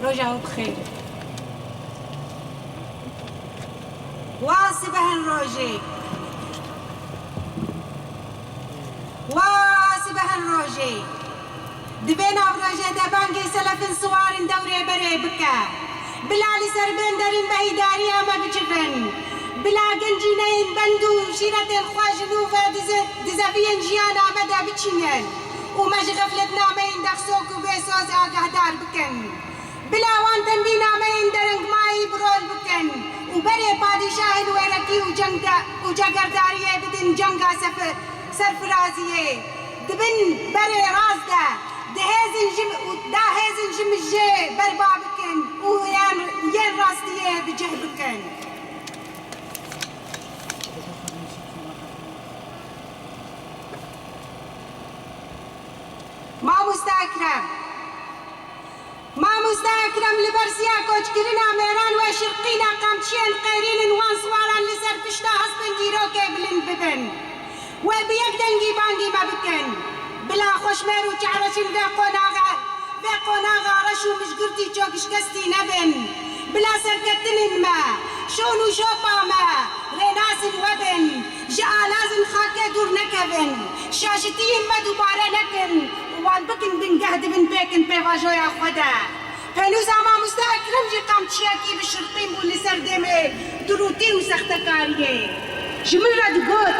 Roja wî bi xêr be. Wa sibehin rojê. Wa sibehin rojê. Divê navrojê de bangê selefin siwarin dewrê berê bike. Bila li ser bên derîn behîdariya me bicivin. Bila gencîneyên bend û şîretên xwe ji nû ve di zeviyên jiyana me de biçînin. û me ji xefletnameyên dexsok û bêsoz agahdar bikin. Bila wan tendî nameyên derengmayî bi rol bikin û berê padîşahên wêrekî û û cegerdariyê bidin cenga serfiraziyê. Di bin berê rast de di hêzin ji da hêzin ji mijê berba bikin û yan yên rastiyê bi cih bikin. Mamoste Ekrem Mamoste Ekrem li ber ziya koçkirina mêran we şirqîna qamçiyên qêrînin wan swaran li ser pişta hespên dîrokê bilind bibin we bi yek dengî bangî me bikin bila xweşmêr û çareçin vê qonaxe vê qonaxa reş û mijgirtî çokşkestî nebin bila serketinên me şon û şopa me rênasn we bin Ji alazên xakê dûr nekevin, şajitiyên me dubare nekin û wan bikin bingeh di bin pêkin pêvajoya xwe de. Pênûza mamoste Ekrem jî qamçiyekî bi şirtîn bû li ser dêmê dirûtî û sextekariyê. Ji min re digot,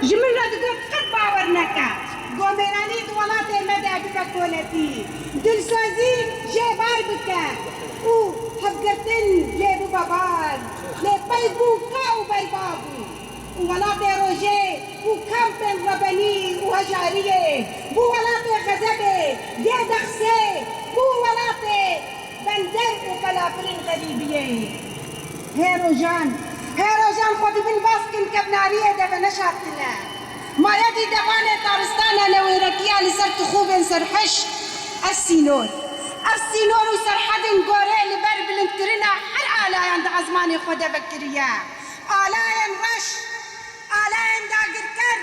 ji min re digot qet bawer neke Gomêranî di welatê me de bibe koletî, dilsozî jê bar bike û hevgirtin jê bibe bar. Lê pey bû ka û berbav û welatê rojê û kampên rebenî û hejariyê, bû welatê xezebê, gê dexsê, bû welatê bender û pelafirên xerîbiyê. Hê rojan, hê rojan xwe di bin baskên kevnariyê de ve neşartine. Mayedî devanê taristana newêrekiya li ser tixûbên serhişk e sînor. Ev sînor û serhedên gorê li ber bilindkirina her alayan di ezmanê xwe de vekiriye. Alayên reş, alayên dagirker,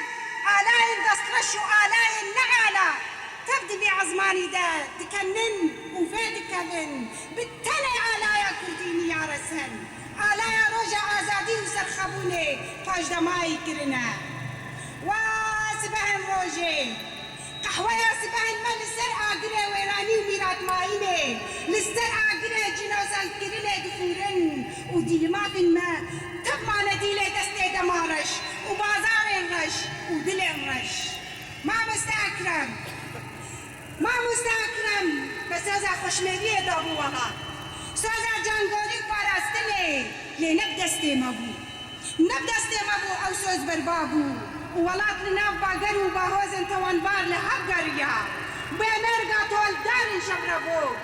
alayên destreş û alayên neala tev di vê ezmanî de dikenin û vedikevin, bi tenê alaya kurdî niyaresin. Alaya Roja Azadî û Serxebûnê paşdamayî kirine. Wa sibehên rojê! Qehweya sibehên me li ser agirê wêranî û mîratmayînê, li ser agirê cînozendkirinê difûrin û dîlmavên me tev mane dîlê destê dema reş û bazarên reş û dilên reş. Mamoste Ekrem Mamoste Ekrem me soza xoşmêliyê dabû wiha. Soza cangorî û parastinê lê ne bi destê me bû. Ne bi destê me bû ew soz berba bû û welat li nav bager û bahozên tawanbar li hev geriya. Bêmerga toldarên şevrevok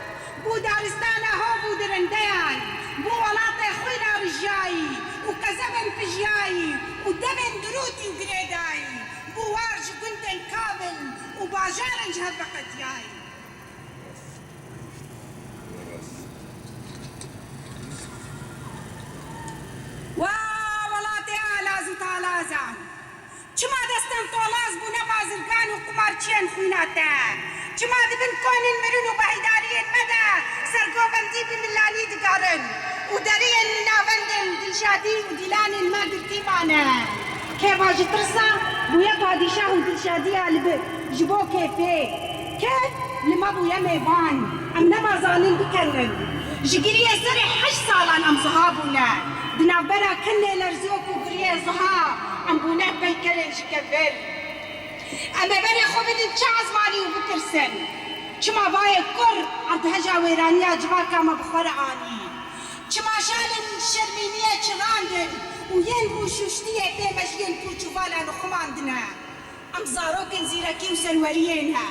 bû daristana hov û dirindeyan, bû welatê xwîna rijiyayî û qezebên pijiyayî û demên dirûtî û girêdayî bû war ji gundên Kabil û bajarên ji hev veqetiyayî. Wa welatê alaz û talazan! Çima destên tolaz bûne bazirgan û qumarçiyên xwîna te? Çima di bin konên mirin û beheydariyên me de sergovendî bi milanî digarin û deriyên li navendên Dilşadî û Dîlanên me girtî mane? Kêfa ji tirsa bûye padîşah û Dilşadiya li bi ji bo kêfê. Ke li me bûye mêvan, em nema zanin bikewrin. Ji giriyê serê heşt salan em zuha bûne. Di navbera ke lêlerziyo ku giriyê zuha, em bûne peykerên ji ke vir. Em ê berê xwe bidin çi ezmanî û bipirsin, Çima vayê kur erdheja wêraniya civaka me bi xwe re anî? Çima şalên şermîniyê çirandin û yên rû şûştiyê pê me ji yên pûç û valan û xwe man dine? Em zarokên zîrekî û serweriyê ne.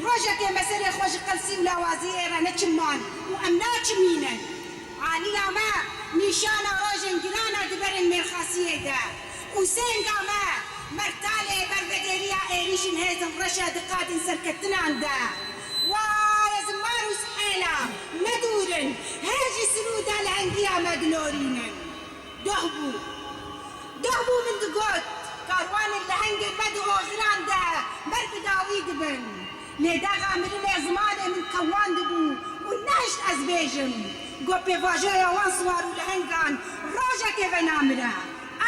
Rojekê me serê xwe ji qelsî û lawaziyê re neçiman û em naçimînin. Aliya me nîşana rojên giran e di berên mêrxasiyê de û sênga me mertalê ber vedêriya êrîşên hêzên reş e di qadên serkeftinan de. Waye ziman û sihêla me dûr in, hê jî sirûda lehengiya me dilorînin. Geh bû. Geh bû min digot, karwanên lehengên me di hoziran de ber bi dawî dibin. Lê dexa mirinê zimanê min tewandibû û nehişt ez bêjim ku pêvajoya wan siwar û lehengan rojekê ve namire.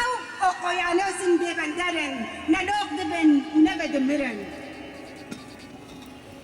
Ew oqoyanos in bêbender in, ne lok dibin û ne ve dimirin.